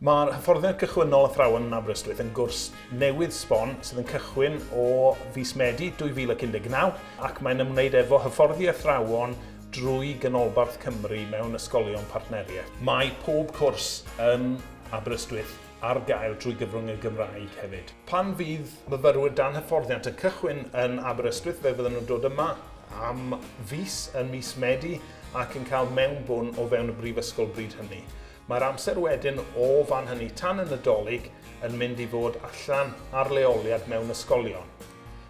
Mae'r hyfforddiant gychwynnol Athrawon yn Aberystwyth yn gwrs newydd sbon sydd yn cychwyn o fis Medi 2019 ac mae'n ymwneud efo hyfforddi athrawon drwy Ganolbarth Cymru mewn ysgolion partneriaeth. Mae pob cwrs yn Aberystwyth ar gael drwy gyfrwng y Gymraeg hefyd. Pan fydd myfyrwyr dan hyfforddiant yn cychwyn yn Aberystwyth fe fyddan nhw'n dod yma am fis yn mis Medi ac yn cael mewnbwn o fewn y brifysgol bryd hynny. Mae'r amser wedyn o fan hynny tan y Nadolig yn mynd i fod allan ar leoliad mewn ysgolion.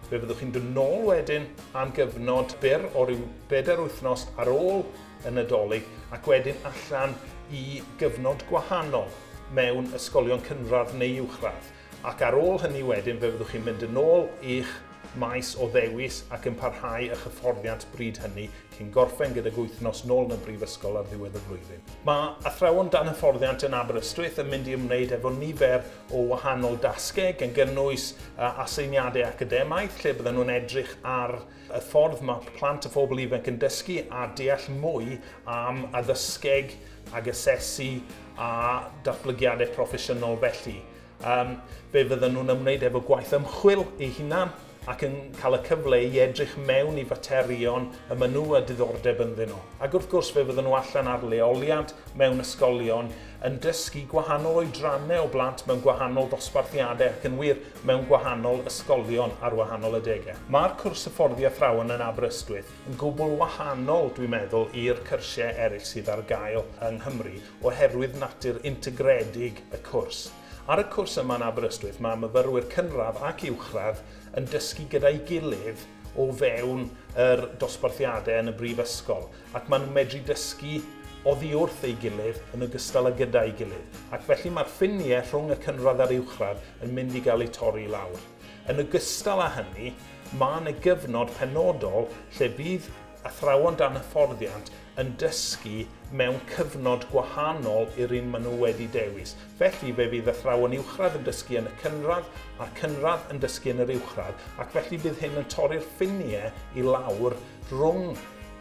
Fe fyddwch chi'n dod nôl wedyn am gyfnod byr o ryw bedair wythnos ar ôl y Nadolig ac wedyn allan i gyfnod gwahanol mewn ysgolion cynradd neu uwchradd. Ac ar ôl hynny wedyn fe fyddwch chi'n mynd yn ôl i'ch maes o ddewis ac yn parhau â'ch hyfforddiant bryd hynny cyn gorffen gydag wythnos nôl yn y brifysgol ar ddiwedd y flwyddyn. Mae athrawon dan hyfforddiant yn Aberystwyth yn mynd i ymwneud efo nifer o wahanol dasgau gan gynnwys aseiniadau academaidd lle byddan nhw'n edrych ar y ffordd mae plant a phobl ifanc yn dysgu a deall mwy am addysgeg ag asesu a datblygiadau proffesiynol felly. Um, fe fydden nhw'n ymwneud efo gwaith ymchwil ei hunan ac yn cael y cyfle i edrych mewn i faterion y maen nhw a diddordeb ynddyn nhw. Ac wrth gwrs fe fydden nhw allan ar leoliad mewn ysgolion yn dysgu gwahanol oedrannau o blant mewn gwahanol dosbarthiadau ac yn wir mewn gwahanol ysgolion ar wahanol adegau. Mae'r cwrs hyfforddi athrawon yn Aberystwyth yn gwbl wahanol, dwi'n meddwl, i'r cyrsiau eraill sydd ar gael yng Nghymru oherwydd natur integredig y cwrs. Ar y cwrs yma yn Aberystwyth mae myfyrwyr cynradd ac uwchradd yn dysgu gyda'i gilydd o fewn yr dosbarthiadau yn y brifysgol. ac maen nhw'n medru dysgu oddi wrth ei gilydd yn ogystal â gyda'i gilydd, ac felly mae'r ffiniau rhwng y cynradd a'r uwchradd yn mynd i gael eu torri i lawr. Yn ogystal â hynny, mae yna gyfnod penodol lle bydd athrawon dan hyfforddiant yn dysgu mewn cyfnod gwahanol i'r un maen nhw wedi dewis. Felly, fe fydd athrawon uwchradd yn dysgu yn y cynradd, a'r cynradd yn dysgu yn yr uwchradd, ac felly bydd hyn yn torri'r ffiniau i lawr rhwng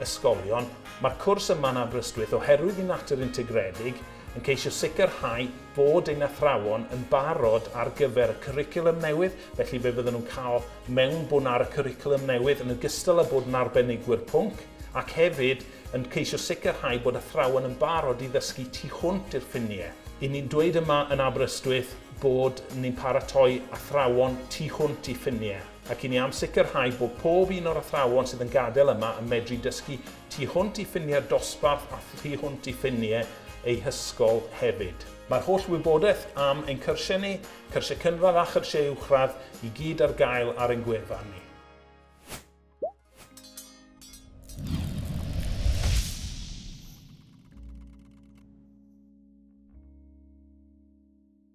ysgolion. Mae'r cwrs yma'n Aberystwyth oherwydd ei natur integredig, yn ceisio sicrhau bod ein athrawon yn barod ar gyfer y cwricwlwm newydd, felly fe fydden nhw'n cael mewnbwn ar y cwricwlwm newydd yn ogystal â bod yn arbenigwyr pwnc, ac hefyd yn ceisio sicrhau bod athrawon yn barod i ddysgu tu hwnt i'r ffiniau. Y'n ni'n dweud yma yn Aberystwyth bod ni'n paratoi athrawon tu hwnt i ffiniau. ac i ni am sicrhau bod pob un o'r athrawon sydd yn gadael yma yn medru dysgu tu hwnt i ffiniau'r dosbarth a thu hwnt i ffiniau eu hysgol hefyd. Mae'r holl wybodaeth am ein cyrsiau ni, cyrsiau cynradd a chyrsiau uwchradd, i gyd ar gael ar ein gwefan ni.